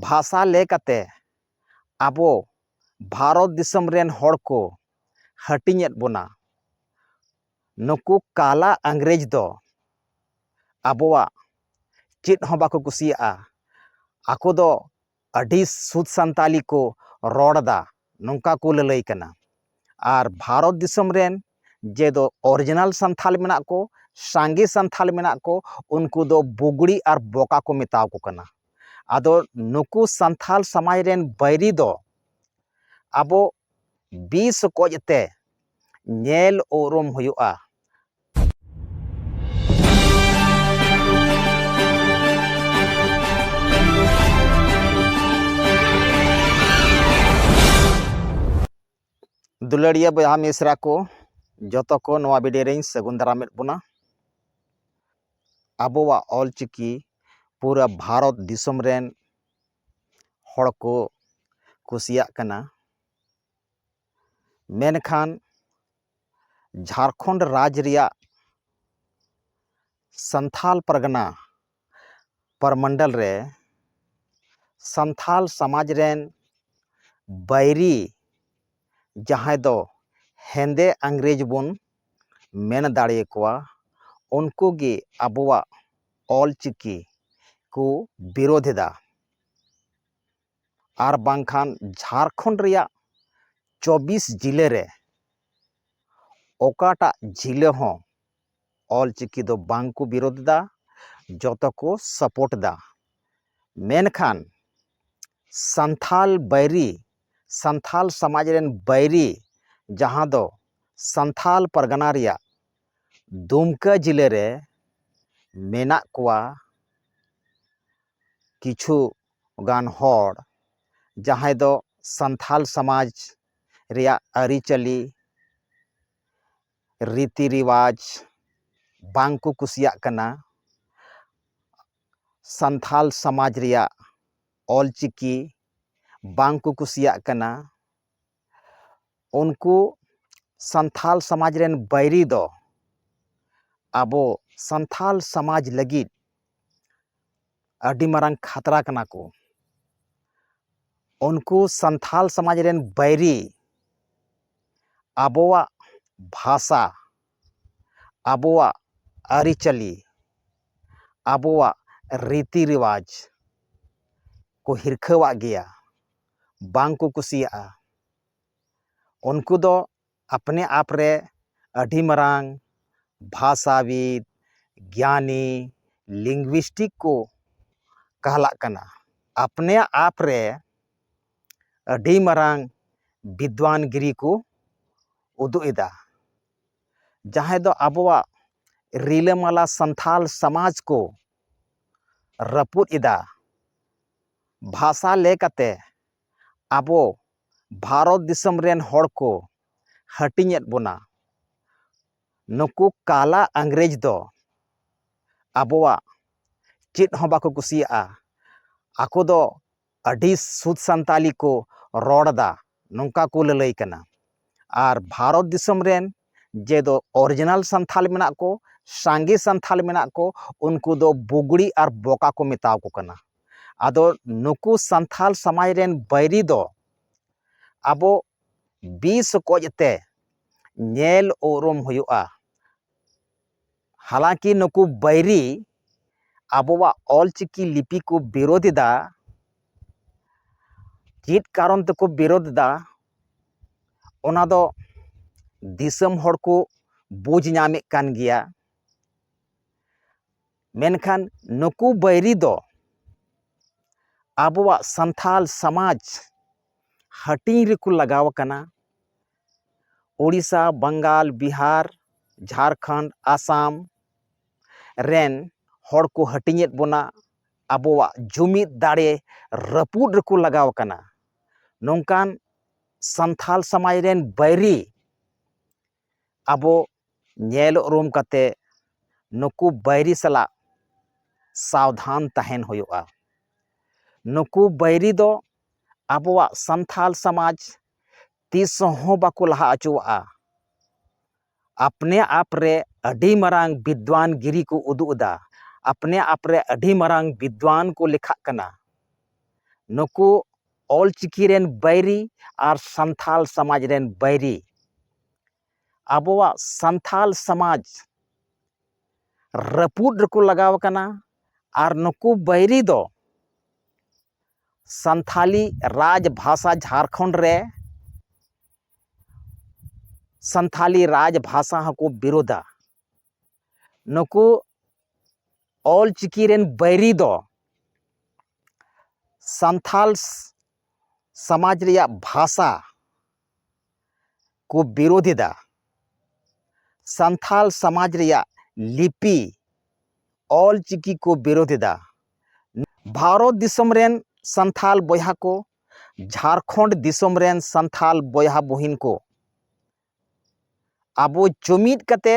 ᱵᱷᱟᱥᱟ ᱞᱮ ᱠᱟᱛᱮ ᱟᱵᱚ ᱵᱷᱟᱨᱚᱛ ᱫᱤᱥᱚᱢ ᱨᱮᱱ ᱦᱚᱲ ᱠᱚ ᱦᱟᱹᱴᱤᱧᱮᱫ ᱵᱚᱱᱟ ᱱᱩᱠᱩ ᱠᱟᱞᱟ ᱤᱝᱨᱮᱡᱽ ᱫᱚ ᱟᱵᱚᱣᱟᱜ ᱪᱮᱫ ᱦᱚᱸ ᱵᱟᱠᱚ ᱠᱩᱥᱤᱭᱟᱜᱼᱟ ᱟᱠᱚ ᱫᱚ ᱟᱹᱰᱤ ᱥᱩᱫᱷ ᱥᱟᱱᱛᱟᱲᱤ ᱠᱚ ᱨᱚᱲ ᱮᱫᱟ ᱱᱚᱝᱠᱟ ᱠᱚ ᱞᱟᱹᱞᱟᱹᱭ ᱠᱟᱱᱟ ᱟᱨ ᱵᱷᱟᱨᱚᱛ ᱫᱤᱥᱚᱢ ᱨᱮᱱ ᱡᱮ ᱫᱚ ᱚᱨᱤᱡᱤᱱᱟᱞ ᱥᱟᱱᱛᱷᱟᱞ ᱢᱮᱱᱟᱜ ᱠᱚ ᱥᱟᱸᱜᱮ ᱥᱟᱱᱛᱷᱟᱞ ᱢᱮᱱᱟᱜ ᱠᱚ ᱩᱱᱠᱩ ᱫᱚ ᱵᱩᱜᱽᱲᱤ ᱟᱨ ᱵᱚᱠᱟ ᱠᱚ ᱢᱮᱛᱟᱣᱟᱠᱚ ᱠᱟᱱᱟ ᱟᱫᱚ ᱱᱩᱠᱩ ᱥᱟᱱᱛᱷᱟᱞ ᱥᱚᱢᱟᱡᱽ ᱨᱮᱱ ᱵᱟᱹᱭᱨᱤ ᱫᱚ ᱟᱵᱚ ᱵᱤᱥ ᱚᱠᱚᱡ ᱛᱮ ᱧᱮᱞ ᱩᱨᱩᱢ ᱦᱩᱭᱩᱜᱼᱟ ᱫᱩᱞᱟᱹᱲᱤᱭᱟᱹ ᱵᱚᱭᱦᱟ ᱢᱤᱥᱨᱟ ᱠᱚ ᱡᱚᱛᱚ ᱠᱚ ᱱᱚᱣᱟ ᱵᱷᱤᱰᱤᱭᱳ ᱨᱮᱧ ᱥᱟᱹᱜᱩᱱ ᱫᱟᱨᱟᱢᱮᱫ ᱵᱚᱱᱟ ᱟᱵᱚᱣᱟᱜ ᱚᱞᱪᱤᱠᱤ ᱯᱩᱨᱟᱹ ᱵᱷᱟᱨᱚᱛ ᱫᱤᱥᱚᱢ ᱨᱮᱱ ᱦᱚᱲ ᱠᱚ ᱠᱩᱥᱤᱭᱟᱜ ᱠᱟᱱᱟ ᱢᱮᱱᱠᱷᱟᱱ ᱡᱷᱟᱲᱠᱷᱚᱸᱰ ᱨᱟᱡᱽ ᱨᱮᱭᱟᱜ ᱥᱟᱱᱛᱷᱟᱞ ᱯᱟᱨᱜᱟᱱᱟ ᱯᱚᱨᱢᱚᱱᱰᱚᱞ ᱨᱮ ᱥᱟᱱᱛᱷᱟᱞ ᱥᱚᱢᱟᱡᱽ ᱨᱮᱱ ᱵᱟᱹᱭᱨᱤ ᱡᱟᱦᱟᱸᱭ ᱫᱚ ᱦᱮᱸᱫᱮ ᱤᱝᱨᱮᱡᱽ ᱵᱚᱱ ᱢᱮᱱ ᱫᱟᱲᱮᱭᱟᱠᱚᱣᱟ ᱩᱱᱠᱩ ᱜᱮ ᱟᱵᱚᱣᱟᱜ ᱚᱞᱪᱤᱠᱤ ᱠᱚ ᱵᱤᱨᱳᱫᱷ ᱮᱫᱟ ᱟᱨ ᱵᱟᱝᱠᱷᱟᱱ ᱡᱷᱟᱲᱠᱷᱚᱸᱰ ᱨᱮᱭᱟᱜ ᱪᱚᱵᱵᱤᱥ ᱡᱤᱞᱟᱹ ᱨᱮ ᱚᱠᱟᱴᱟᱜ ᱡᱤᱞᱟᱹ ᱦᱚᱸ ᱚᱞ ᱪᱤᱠᱤ ᱫᱚ ᱵᱟᱝ ᱠᱚ ᱵᱤᱨᱳᱫᱷ ᱮᱫᱟ ᱡᱚᱛᱚ ᱠᱚ ᱥᱟᱯᱳᱨᱴ ᱮᱫᱟ ᱢᱮᱱᱠᱷᱟᱱ ᱥᱟᱱᱛᱷᱟᱞ ᱵᱟᱹᱭᱨᱤ ᱥᱟᱱᱛᱷᱟᱞ ᱥᱚᱢᱟᱡᱽ ᱨᱮᱱ ᱵᱟᱹᱭᱨᱤ ᱡᱟᱦᱟᱸ ᱫᱚ ᱥᱟᱱᱛᱷᱟᱞ ᱯᱟᱨᱜᱟᱱᱟ ᱨᱮᱭᱟᱜ ᱫᱩᱢᱠᱟᱹ ᱡᱤᱞᱟᱹ ᱨᱮ ᱢᱮᱱᱟᱜ ᱠᱚᱣᱟ ᱠᱤᱪᱷᱩ ᱜᱟᱱ ᱦᱚᱲ ᱡᱟᱦᱟᱸᱭ ᱫᱚ ᱥᱟᱱᱛᱟᱲ ᱥᱚᱢᱟᱡᱽ ᱨᱮᱭᱟᱜ ᱟᱹᱨᱤᱪᱟᱹᱞᱤ ᱨᱤᱛᱤ ᱨᱮᱣᱟᱡᱽ ᱵᱟᱝ ᱠᱚ ᱠᱩᱥᱤᱭᱟᱜ ᱠᱟᱱᱟ ᱥᱟᱱᱛᱟᱲ ᱥᱚᱢᱟᱡᱽ ᱨᱮᱭᱟᱜ ᱚᱞᱪᱤᱠᱤ ᱵᱟᱝ ᱠᱚ ᱠᱩᱥᱤᱭᱟᱜ ᱠᱟᱱᱟ ᱩᱱᱠᱩ ᱥᱟᱱᱛᱟᱲ ᱥᱚᱢᱟᱡᱽ ᱨᱮᱱ ᱵᱟᱹᱭᱨᱤ ᱫᱚ ᱟᱵᱚ ᱥᱟᱱᱛᱟᱲ ᱥᱚᱢᱟᱡᱽ ᱞᱟᱹᱜᱤᱫ ᱟᱹᱰᱤ ᱢᱟᱨᱟᱝ ᱠᱷᱟᱛᱨᱟ ᱠᱟᱱᱟ ᱠᱚ ᱩᱱᱠᱩ ᱥᱟᱱᱛᱟᱲ ᱥᱚᱢᱟᱡᱽ ᱨᱮᱱ ᱵᱟᱹᱭᱨᱤ ᱟᱵᱚᱣᱟᱜ ᱵᱷᱟᱥᱟ ᱟᱵᱚᱣᱟᱜ ᱟᱹᱨᱤᱪᱟᱹᱞᱤ ᱟᱵᱚᱣᱟᱜ ᱨᱤᱛᱤ ᱨᱮᱣᱟᱡᱽ ᱠᱚ ᱦᱤᱨᱠᱷᱟᱹᱣᱟᱜ ᱜᱮᱭᱟ ᱵᱟᱝ ᱠᱚ ᱠᱩᱥᱤᱭᱟᱜᱼᱟ ᱩᱱᱠᱩ ᱫᱚ ᱟᱯᱱᱮ ᱟᱯ ᱨᱮ ᱟᱹᱰᱤ ᱢᱟᱨᱟᱝ ᱵᱷᱟᱥᱟᱵᱤᱫ ᱜᱮᱭᱟᱱᱤ ᱞᱤᱝᱜᱩᱭᱤᱥᱴᱤᱠ ᱠᱚ ᱠᱟᱦᱞᱟᱜ ᱠᱟᱱᱟ ᱟᱯᱱᱮ ᱟᱯ ᱨᱮ ᱟᱹᱰᱤ ᱢᱟᱨᱟᱝ ᱵᱤᱫᱽᱣᱟᱱ ᱜᱤᱨᱤ ᱠᱚ ᱩᱫᱩᱜ ᱮᱫᱟ ᱡᱟᱦᱟᱸᱭ ᱫᱚ ᱟᱵᱚᱣᱟᱜ ᱨᱤᱞᱟᱹᱢᱟᱞᱟ ᱥᱟᱱᱛᱟᱲ ᱥᱚᱢᱟᱡᱽ ᱠᱚ ᱨᱟᱹᱯᱩᱫ ᱮᱫᱟ ᱵᱷᱟᱥᱟ ᱞᱮᱠᱟᱛᱮ ᱟᱵᱚ ᱵᱷᱟᱨᱚᱛ ᱫᱤᱥᱚᱢ ᱨᱮᱱ ᱦᱚᱲ ᱠᱚ ᱦᱟᱹᱴᱤᱧᱮᱫ ᱵᱚᱱᱟ ᱱᱩᱠᱩ ᱠᱟᱞᱟ ᱤᱝᱨᱮᱡᱽ ᱫᱚ ᱟᱵᱚᱣᱟᱜ ᱪᱮᱫ ᱦᱚᱸ ᱵᱟᱠᱚ ᱠᱩᱥᱤᱭᱟᱜᱼᱟ ᱟᱠᱚ ᱫᱚ ᱟᱹᱰᱤ ᱥᱩᱫᱷ ᱥᱟᱱᱛᱟᱲᱤ ᱠᱚ ᱨᱚᱲ ᱮᱫᱟ ᱱᱚᱝᱠᱟ ᱠᱚ ᱞᱟᱹᱞᱟᱹᱭ ᱠᱟᱱᱟ ᱟᱨ ᱵᱷᱟᱨᱚᱛ ᱫᱤᱥᱚᱢ ᱨᱮᱱ ᱡᱮ ᱫᱚ ᱚᱨᱤᱡᱤᱱᱟᱞ ᱥᱟᱱᱛᱷᱟᱞ ᱢᱮᱱᱟᱜ ᱠᱚ ᱥᱟᱸᱜᱮ ᱥᱟᱱᱛᱷᱟᱞ ᱢᱮᱱᱟᱜ ᱠᱚ ᱩᱱᱠᱩ ᱫᱚ ᱵᱩᱜᱽᱲᱤ ᱟᱨ ᱵᱚᱠᱟ ᱠᱚ ᱢᱮᱛᱟᱣᱟᱠᱚ ᱠᱟᱱᱟ ᱟᱫᱚ ᱱᱩᱠᱩ ᱥᱟᱱᱛᱷᱟᱞ ᱥᱟᱢᱟᱡᱽ ᱨᱮᱱ ᱵᱟᱹᱭᱨᱤ ᱫᱚ ᱟᱵᱚ ᱵᱤᱥ ᱚᱠᱚᱡ ᱛᱮ ᱧᱮᱞ ᱩᱨᱩᱢ ᱦᱩᱭᱩᱜᱼᱟ ᱦᱟᱞᱟᱝᱠᱤ ᱱᱩᱠᱩ ᱵᱟᱹᱭᱨᱤ ᱟᱵᱚᱣᱟᱜ ᱚᱞᱪᱤᱠᱤ ᱞᱤᱯᱤ ᱠᱚ ᱵᱤᱨᱳᱫᱷ ᱮᱫᱟ ᱪᱮᱫ ᱠᱟᱨᱚᱱ ᱛᱮᱠᱚ ᱵᱤᱨᱳᱫᱷ ᱮᱫᱟ ᱚᱱᱟ ᱫᱚ ᱫᱤᱥᱚᱢ ᱦᱚᱲ ᱠᱚ ᱵᱩᱡᱽ ᱧᱟᱢᱮᱫ ᱠᱟᱱ ᱜᱮᱭᱟ ᱢᱮᱱᱠᱷᱟᱱ ᱱᱩᱠᱩ ᱵᱟᱹᱭᱨᱤ ᱫᱚ ᱟᱵᱚᱣᱟᱜ ᱥᱟᱱᱛᱟᱲ ᱥᱚᱢᱟᱡᱽ ᱦᱟᱹᱴᱤᱧ ᱨᱮᱠᱚ ᱞᱟᱜᱟᱣ ᱟᱠᱟᱱᱟ ᱳᱰᱤᱥᱟ ᱵᱟᱝᱜᱟᱞ ᱵᱤᱦᱟᱨ ᱡᱷᱟᱲᱠᱷᱚᱸᱰ ᱟᱥᱟᱢ ᱨᱮᱱ ᱦᱚᱲ ᱠᱚ ᱦᱟᱹᱴᱤᱧᱮᱫ ᱵᱚᱱᱟ ᱟᱵᱚᱣᱟᱜ ᱡᱩᱢᱤᱫ ᱫᱟᱲᱮ ᱨᱟᱹᱯᱩᱫ ᱨᱮᱠᱚ ᱞᱟᱜᱟᱣ ᱠᱟᱱᱟ ᱱᱚᱝᱠᱟᱱ ᱥᱟᱱᱛᱟᱲ ᱥᱚᱢᱟᱡᱽ ᱨᱮᱱ ᱵᱟᱹᱭᱨᱤ ᱟᱵᱚ ᱧᱮᱞ ᱩᱨᱩᱢ ᱠᱟᱛᱮ ᱱᱩᱠᱩ ᱵᱟᱹᱭᱨᱤ ᱥᱟᱞᱟᱜ ᱥᱟᱵᱫᱷᱟᱱ ᱛᱟᱦᱮᱱ ᱦᱩᱭᱩᱜᱼᱟ ᱱᱩᱠᱩ ᱵᱟᱹᱭᱨᱤ ᱫᱚ ᱟᱵᱚᱣᱟᱜ ᱥᱟᱱᱛᱟᱲ ᱥᱚᱢᱟᱡᱽ ᱛᱤᱥ ᱦᱚᱸ ᱵᱟᱠᱚ ᱞᱟᱦᱟ ᱚᱪᱚᱣᱟᱜᱼᱟ᱾ ᱟᱯᱱᱮ ᱟᱯ ᱨᱮ ᱟᱹᱰᱤ ᱢᱟᱨᱟᱝ ᱵᱤᱫᱽᱣᱟᱱ ᱜᱤᱨᱤ ᱠᱚ ᱩᱫᱩᱜ ᱮᱫᱟ᱾ ᱟᱯᱱᱮ ᱟᱯ ᱨᱮ ᱟᱹᱰᱤ ᱢᱟᱨᱟᱝ ᱵᱤᱫᱽᱣᱟᱱ ᱠᱚ ᱞᱮᱠᱷᱟᱜ ᱠᱟᱱᱟ᱾ ᱱᱩᱠᱩ ᱚᱞ ᱪᱤᱠᱤ ᱨᱮᱱ ᱵᱟᱹᱭᱨᱤ ᱟᱨ ᱥᱟᱱᱛᱷᱟᱞ ᱥᱟᱢᱟᱡᱽ ᱨᱮᱱ ᱵᱟᱹᱭᱨᱤ᱾ ᱟᱵᱚᱣᱟᱜ ᱥᱟᱱᱛᱷᱟᱞ ᱥᱟᱢᱟᱡᱽ ᱨᱟᱹᱯᱩᱫ ᱨᱮᱠᱚ ᱞᱟᱜᱟᱣ ᱟᱠᱟᱱᱟ ᱟᱨ ᱱᱩᱠᱩ ᱵᱟᱹᱭᱨᱤ ᱫᱚ ᱥᱟᱱᱛᱷᱟᱞᱤ ᱨᱟᱡᱽ ᱵᱷᱟᱥᱟ ᱡᱷᱟᱲᱠᱷᱚᱸᱰ ᱨᱮ ᱥᱟᱱᱛᱷᱟᱞᱤ ᱨᱟᱡᱽ ᱵᱷᱟᱥᱟ ᱦᱚᱸᱠᱚ ᱵᱤᱨᱳᱫᱟ ᱱᱩᱠᱩ ᱚᱞ ᱪᱤᱠᱤ ᱨᱮᱱ ᱵᱟᱹᱭᱨᱤ ᱫᱚ ᱥᱟᱱᱛᱷᱟᱞ ᱥᱚᱢᱟᱡᱽ ᱨᱮᱭᱟᱜ ᱵᱷᱟᱥᱟ ᱠᱚ ᱵᱤᱨᱳᱫᱷ ᱮᱫᱟ ᱥᱟᱱᱛᱟᱲ ᱥᱚᱢᱟᱡᱽ ᱨᱮᱭᱟᱜ ᱞᱤᱯᱤ ᱚᱞ ᱪᱤᱠᱤ ᱠᱚ ᱵᱤᱨᱳᱫᱷ ᱮᱫᱟ ᱵᱷᱟᱨᱚᱛ ᱫᱤᱥᱚᱢ ᱨᱮᱱ ᱥᱟᱱᱛᱟᱲ ᱵᱚᱭᱦᱟ ᱠᱚ ᱡᱷᱟᱲᱠᱷᱚᱸᱰ ᱫᱤᱥᱚᱢ ᱨᱮᱱ ᱥᱟᱱᱛᱟᱲ ᱵᱚᱭᱦᱟ ᱵᱩᱦᱤᱱ ᱠᱚ ᱟᱵᱚ ᱡᱩᱢᱤᱫ ᱠᱟᱛᱮ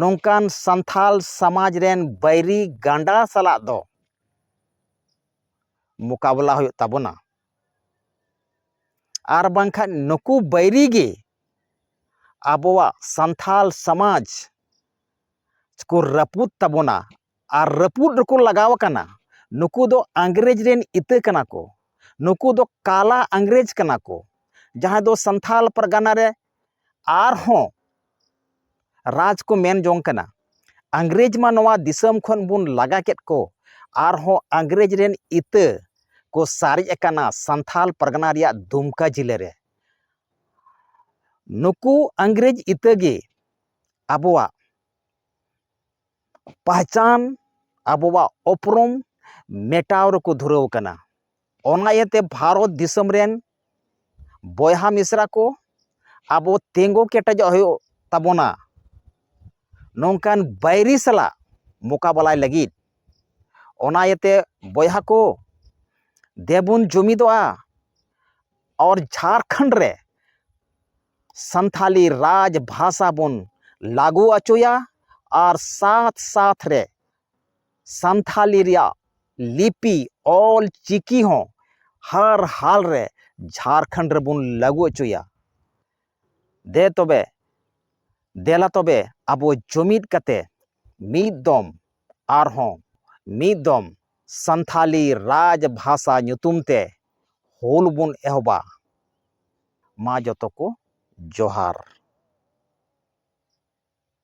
ᱱᱚᱝᱠᱟᱱ ᱥᱟᱱᱛᱟᱲ ᱥᱚᱢᱟᱡᱽ ᱨᱮᱱ ᱵᱟᱹᱭᱨᱤ ᱜᱟᱸᱰᱟ ᱥᱟᱞᱟᱜ ᱫᱚ ᱢᱚᱠᱟᱵᱤᱞᱟ ᱦᱩᱭᱩᱜ ᱛᱟᱵᱚᱱᱟ ᱟᱨ ᱵᱟᱝᱠᱷᱟᱱ ᱱᱩᱠᱩ ᱵᱟᱹᱭᱨᱤ ᱜᱮ ᱟᱵᱚᱣᱟᱜ ᱥᱟᱱᱛᱟᱲ ᱥᱚᱢᱟᱡᱽ ᱠᱚ ᱨᱟᱹᱯᱩᱫ ᱛᱟᱵᱚᱱᱟ ᱟᱨ ᱨᱟᱹᱯᱩᱫ ᱨᱮᱠᱚ ᱞᱟᱜᱟᱣ ᱠᱟᱱᱟ ᱱᱩᱠᱩ ᱫᱚ ᱤᱝᱨᱮᱡᱽ ᱨᱮᱱ ᱤᱛᱟᱹ ᱠᱟᱱᱟ ᱠᱚ ᱱᱩᱠᱩ ᱫᱚ ᱠᱟᱞᱟ ᱤᱝᱨᱮᱡᱽ ᱠᱟᱱᱟ ᱠᱚ ᱡᱟᱦᱟᱸᱭ ᱫᱚ ᱥᱟᱱᱛᱟᱲ ᱯᱟᱨᱜᱟᱱᱟ ᱨᱮ ᱟᱨᱦᱚᱸ ᱨᱟᱡᱽ ᱠᱚ ᱢᱮᱱ ᱡᱚᱝ ᱠᱟᱱᱟ ᱤᱝᱨᱮᱹᱡᱽ ᱢᱟ ᱱᱚᱣᱟ ᱫᱤᱥᱚᱢ ᱠᱷᱚᱱ ᱵᱚᱱ ᱞᱟᱜᱟ ᱠᱮᱫ ᱠᱚ ᱟᱨᱦᱚᱸ ᱤᱝᱨᱮᱹᱡᱽ ᱨᱮᱱ ᱤᱛᱟᱹ ᱠᱚ ᱥᱟᱨᱮᱡ ᱟᱠᱟᱱᱟ ᱥᱟᱱᱛᱷᱟᱞ ᱯᱟᱨᱜᱟᱱᱟ ᱨᱮᱭᱟᱜ ᱫᱩᱢᱠᱟ ᱡᱮᱞᱟ ᱨᱮ ᱱᱩᱠᱩ ᱤᱝᱨᱮᱹᱡᱽ ᱤᱛᱟᱹ ᱜᱮ ᱟᱵᱚᱣᱟᱜ ᱯᱟᱦᱪᱟᱱ ᱟᱵᱚᱣᱟᱜ ᱩᱯᱨᱩᱢ ᱢᱮᱴᱟᱣ ᱨᱮᱠᱚ ᱫᱷᱩᱨᱟᱹᱣ ᱟᱠᱟᱱᱟ ᱚᱱᱟ ᱤᱭᱟᱹᱛᱮ ᱵᱷᱟᱨᱚᱛ ᱫᱤᱥᱚᱢ ᱨᱮᱱ ᱵᱚᱭᱦᱟ ᱢᱤᱥᱨᱟ ᱠᱚ ᱟᱵᱚ ᱛᱤᱸᱜᱩ ᱠᱮᱴᱮᱡᱚᱜ ᱦᱩᱭᱩᱜ ᱛᱟᱵᱚᱱᱟ ᱱᱚᱝᱠᱟᱱ ᱵᱟᱹᱭᱨᱤ ᱥᱟᱞᱟᱜ ᱢᱚᱠᱟᱵᱤᱞᱟᱭ ᱞᱟᱹᱜᱤᱫ ᱚᱱᱟ ᱤᱭᱟᱹᱛᱮ ᱵᱚᱭᱦᱟ ᱠᱚ ᱫᱮᱵᱚᱱ ᱡᱩᱢᱤᱫᱚᱜᱼᱟ ᱟᱨ ᱡᱷᱟᱲᱠᱷᱚᱸᱰ ᱨᱮ ᱥᱟᱱᱛᱷᱟᱞᱤ ᱨᱟᱡᱽ ᱵᱷᱟᱥᱟ ᱵᱚᱱ ᱞᱟᱹᱜᱩ ᱦᱚᱪᱚᱭᱟ ᱟᱨ ᱥᱟᱛ ᱥᱟᱛ ᱨᱮ ᱥᱟᱱᱛᱷᱟᱞᱤ ᱨᱮᱭᱟᱜ ᱞᱤᱯᱤ ᱚᱞ ᱪᱤᱠᱤ ᱦᱚᱸ ᱦᱟᱨ ᱦᱟᱞ ᱨᱮ ᱡᱷᱟᱨᱠᱷᱚᱸᱰ ᱨᱮᱵᱚᱱ ᱞᱟᱹᱜᱩ ᱚᱪᱚᱭᱟ ᱫᱮ ᱛᱚᱵᱮ ᱫᱮᱞᱟ ᱛᱚᱵᱮ ᱟᱵᱚ ᱡᱩᱢᱤᱫ ᱠᱟᱛᱮ ᱢᱤᱫ ᱫᱚᱢ ᱟᱨᱦᱚᱸ ᱢᱤᱫ ᱫᱚᱢ ᱥᱟᱱᱛᱷᱟᱞᱤ ᱨᱟᱡᱽ ᱵᱷᱟᱥᱟ ᱧᱩᱛᱩᱢ ᱛᱮ ᱦᱩᱞ ᱵᱚᱱ ᱮᱦᱚᱵᱟ ᱢᱟ ᱡᱚᱛᱚ ᱠᱚ ᱡᱚᱦᱟᱨ